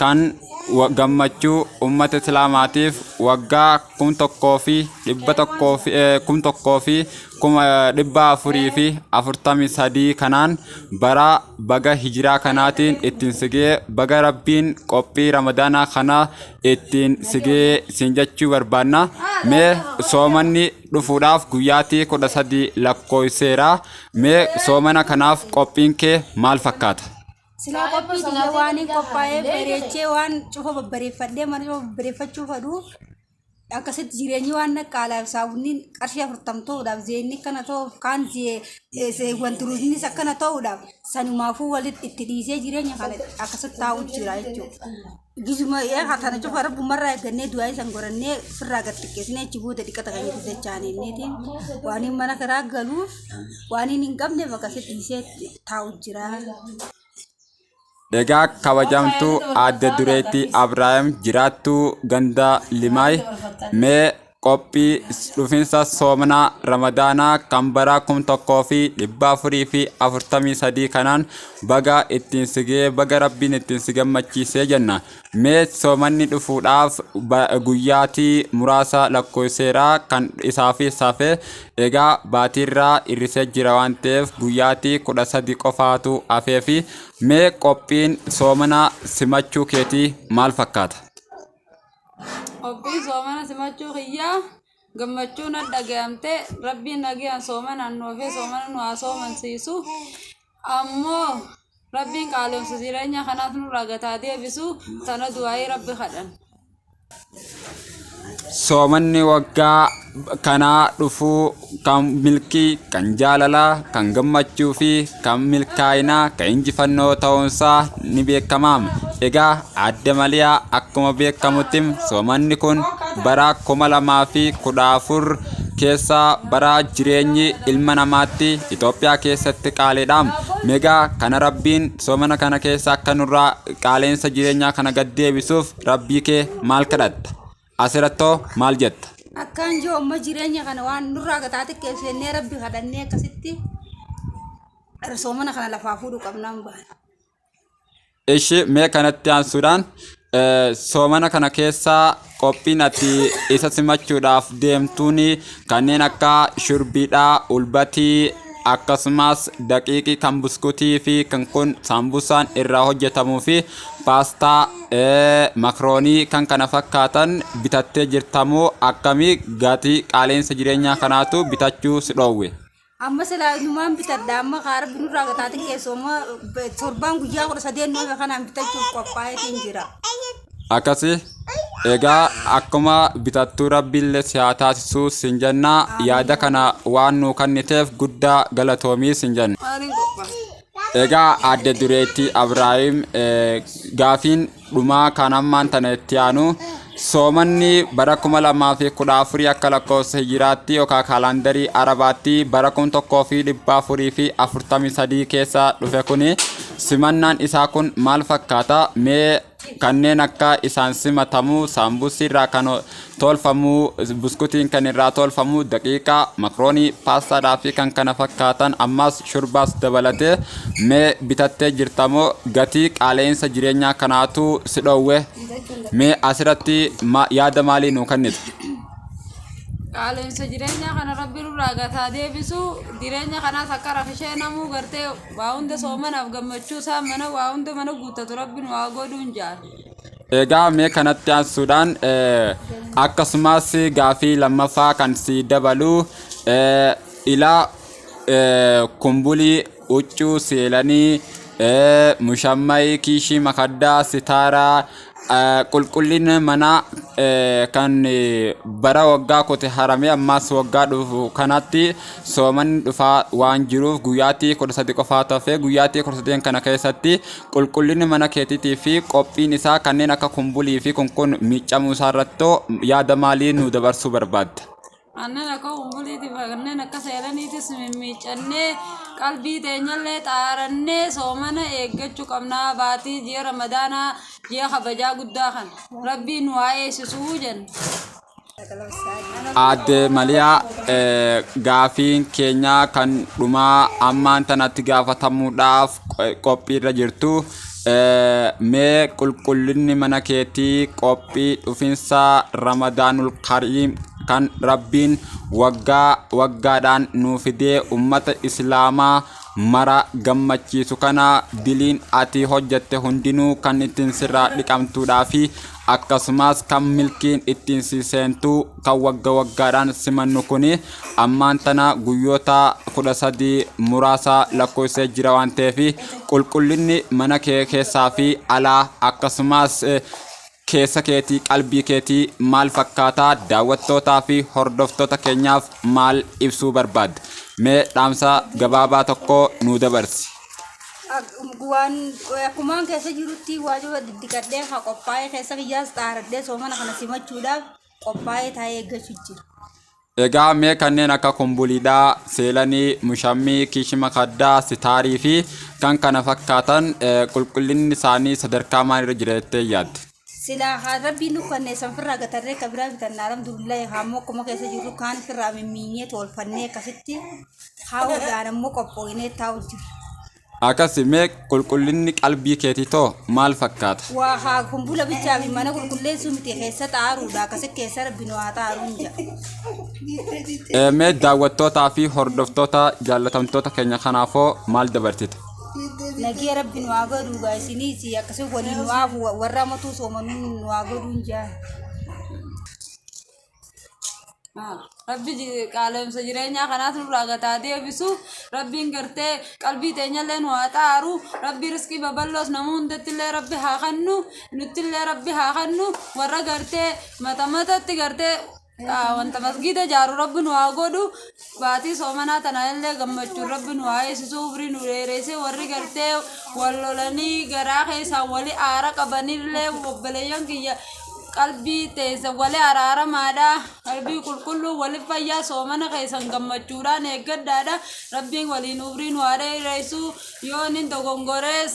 kan wa- gammachuu ummata islaamaatiif waggaa kum tokkoo fi dhibba tokkoo fi eh, kum tokkoo fi kuma eh, dhibba afurii fi afurtamii sadii kanaan bara baga hijiraa kanaatiin ittiin sigee baga rabbiin qophii ramadaanaa kana ittiin sigee siin jechuu barbaanna mee soomanni dhufuudhaaf guyyaatii kudha sadii lakkoofseera mee soomana kanaaf qophiin kee maal fakkaata Silaa Kaayyoon qophii kiyya sa'aatii waan hin guddaa qophaa'ee haallee bareechee waan cufa babbareeffadhee mana cufa babbareeffachuu fadhu akkasitti jireenyi waan naqqaalaaf saawunniin qarshii afurtam ta'uudhaaf zeenni akkana ta'uuf kaan wanti ruuznis akkana ta'uudhaaf sanumaafuu walitti itti dhiisee jireenya kana akkasitti taa'u jira jechuudha. Gizuma ee hatana cufa rabbumarraa eeggannee du'aa isan gorannee firraa gad xiqqeessinee achi booda dhiqata kan itti dachaaneetiin waan hin mana kiraa galuuf waan hin hin qabne bakka sitti dhiisee taa'u jira. Egaa kabajamtuu aadde dureetti Abrahaam jiraattuu ganda Limaay mee qophii dhufinsa soomana ramadaanaa kan baraa kum tokkoo fi dhibba afurii fi afurtamii sadii kanaan baga ittiin sigee baga rabbiin ittiin si gammachiisee jenna mee soomanni dhufuudhaaf ba- guyyaatii muraasa lakkoofseeraa kan isaafi safe egaa baatiirraa irrisee jira waan ta'eef guyyaatii kudha sadi qofaatu hafee fi mee qophiin soomana simachuu keetii maal fakkaata Obbii soomana simachuu kiyyaa gammachuu na dhaga'amte rabbiin nagaan soomanaan nu hafee soomana nu haa soomansiisu ammoo rabbiin qaalomsa jireenya kanaas nurraa gataa deebisu sana du'aayii rabbi kadhan. Soomanni waggaa kanaa dhufuu kan milkii kan jaalalaa kan gammachuu fi kan milkaa'inaa kan injifannoo ta'uunsaa ni beekama egaa aadde maliyaa akkuma beekamutti soomanni kun bara kuma lamaa fi kudha afur keessa bara jireenyi ilma namaatti Itoophiyaa keessatti qaaliidha megaa kana rabbiin soomana kana keessa akka nurraa qaaleensa jireenyaa kana gad deebisuuf rabbii kee maal kadhatta Asirattoo maal jetta? Akkaan jiru amma jireenya kana waan nurraa gataa xiqqeef jennee rabbi kadhannee akkasitti soomana kana lafaa fuudhu qabnaan bahan. Ishi mee kanatti aansuudhaan eh, soomana kana keessaa qophiin ati isa simachuudhaaf deemtuun kanneen akka shurbiidhaa, ulbatii akkasumas daqiiqii kan buskutii fi kan kun saambusaan irraa hojjetamuu fi paastaa makroonii kan kana fakkaatan bitattee jirtamoo akkamii gatii qaaleensa jireenyaa kanaatu bitachuu si dhoowwe. amma silaa numaan bitadha amma kaa rabbi nurraa gataatin keessoo amma torbaan guyyaa kudha sadeen noome kanaan bitachuuf qophaa'eetiin jira akkasi egaa akkuma bitattuu rabbiillee si haa taasisuu sin jennaa yaada kana waan nuu kenniteef guddaa galatoomi sin jenna. maaliin qophaa'e Egaa adda dureetti Abiraahim gaafiin dhumaa kan ammaan tana itti aanu soomanni bara 2014 akka lakkoofsa hijiraatti yookaan kaalandarii arabaatti bara 1443 keessa dhufe kuni simannaan isaa kun maal fakkaata mee kanneen akka isaan simatamu saambusii irraa kan tolfamu buskutiin kan irraa tolfamu daqiiqaa makroonii paastaadhaa fi kan kana fakkaatan ammaas shurbaas dabalatee mee bitattee jirtamoo gatii qaala'insa jireenyaa kanaatu si dhoowwe mee asirratti ma- yaada maalii nuu kennitu qaala'insa jireenyaa kana rabbi nurraa gataa deebisu jireenya kanaas akka rakishee namuu gartee Waa hunda soomanaaf gammachuu isaa mana waa hunda mana guuttatu rabbi nu haa godhuun jaal. Egaa mee kanatti aansuudhaan eh, akkasumas gaafii lammaffaa kan si dabalu eh, ilaa eh, kumbulii huccuu seelanii eh, mushammayi kiishii makaddaa sitaaraa qulqullina manaa kan bara waggaa kote haramee ammaas waggaa dhufu kanatti soomanni dhufaa waan jiruuf guyyaatti kudha sadi qofaa tafee guyyaatti kudha sadeen kana keessatti qulqullinni mana keetiitii fi qophiin isaa kanneen akka kumbulii fi kun kun miicamuu isaa irrattoo yaada maalii nu dabarsuu barbaadda? Aannan akka umbuliitiif kanneen akka seeraniitis mimmiiccannee qalbii teenyallee xaarannee soomana eeggachuu qabna baatii ji'a ramadaanaa ji'a kabajaa guddaa kan rabbiin nu haa eegsisuu jenna. Aadde Maliyaa eh, gaafiin keenya kan dhumaa ammaan tanatti gaafatamuudhaaf eh, qophiirra jirtu. mee qulqullinni mana keetii qophii dhufinsa ramadaanul kariim kan rabbiin waggaa waggaadhaan nuu fidee ummata islaamaa mara gammachiisu kana diliin ati hojjette hundinuu kan ittiin sirraa dhiqamtuudhaa fi Akkasumas kan milkiin ittiin si seentu kan wagga waggaadhaan simannu kun ammaan tana guyyoota kudha sadii muraasa lakkoofsee jira waan ta'eef qulqullinni mana kee keessaa fi alaa akkasumas eh, keessa keetii qalbii keetii maal fakkaata daawwattootaa fi hordoftoota keenyaaf maal ibsuu barbaadda mee dhaamsa gabaabaa tokko nuu dabarsi. waan akkumaan keessa jirutti waajjira diddiqadhee haa qophaa'ee keessa kiyyaas xaaradhee soomana kana simachuudhaaf qophaa'ee taa'ee eeggachuu jira. Egaa mee kanneen akka kumbuliidhaa, seelanii, mushammii, kishima kaddaa, sitaarii fi kan kana fakkaatan qulqullinni isaanii sadarkaa maalirra jira jettee yaadda? Silaa haa rabbiin nu kannee san firraa gatarree ka biraa bitanna alhamdulillahi haa immoo akkuma keessa jirru kaan firraa mimmiinyee tolfannee akkasitti haawudhaan ammoo qophooyinee taa'u jirra. Akkasi mee qulqullinni qalbii keetii too maal fakkaata? Waa haa kun bula bichaa fi mana qulqulleessuu miti keessa xaaruudha akkasi keessa rabbi nu haa xaaruun jira. Ee, Mee daawwattootaa fi hordoftoota jaallatamtoota keenya kanaafoo maal dabarsita? Nagee rabbi nu haa godhuu gaa isiniis akkasuma waliin nu haafu warra amatuu soomanuu nu haa godhuun jaa. Rabbi ji- qaala'insa jireenyaa kanaas nurraa gataa deebisu rabbiin gartee qalbii teenyallee nu haa xaaru rabbi riskii babal'oos nama hundattillee rabbi haa kennu nuttillee rabbi haa kennu warra gartee mata matatti gartee Yaa wanta masgiida jaaru rabbi nu haa godhu baatii soomanaa tana illee gammachuun rabbi nu haa eessisu umrii nu dheeresse warri gartee wal lolanii garaa keessaa wali aara qabanillee obboleeyyan kiyya qalbii teessa wali araaramaadha qalbii qulqulluu wali fayyaa soomana keessan gammachuudhaan eeggadhaadha rabbiin waliin umrii nu haa dheeressu yoo nin dogongorees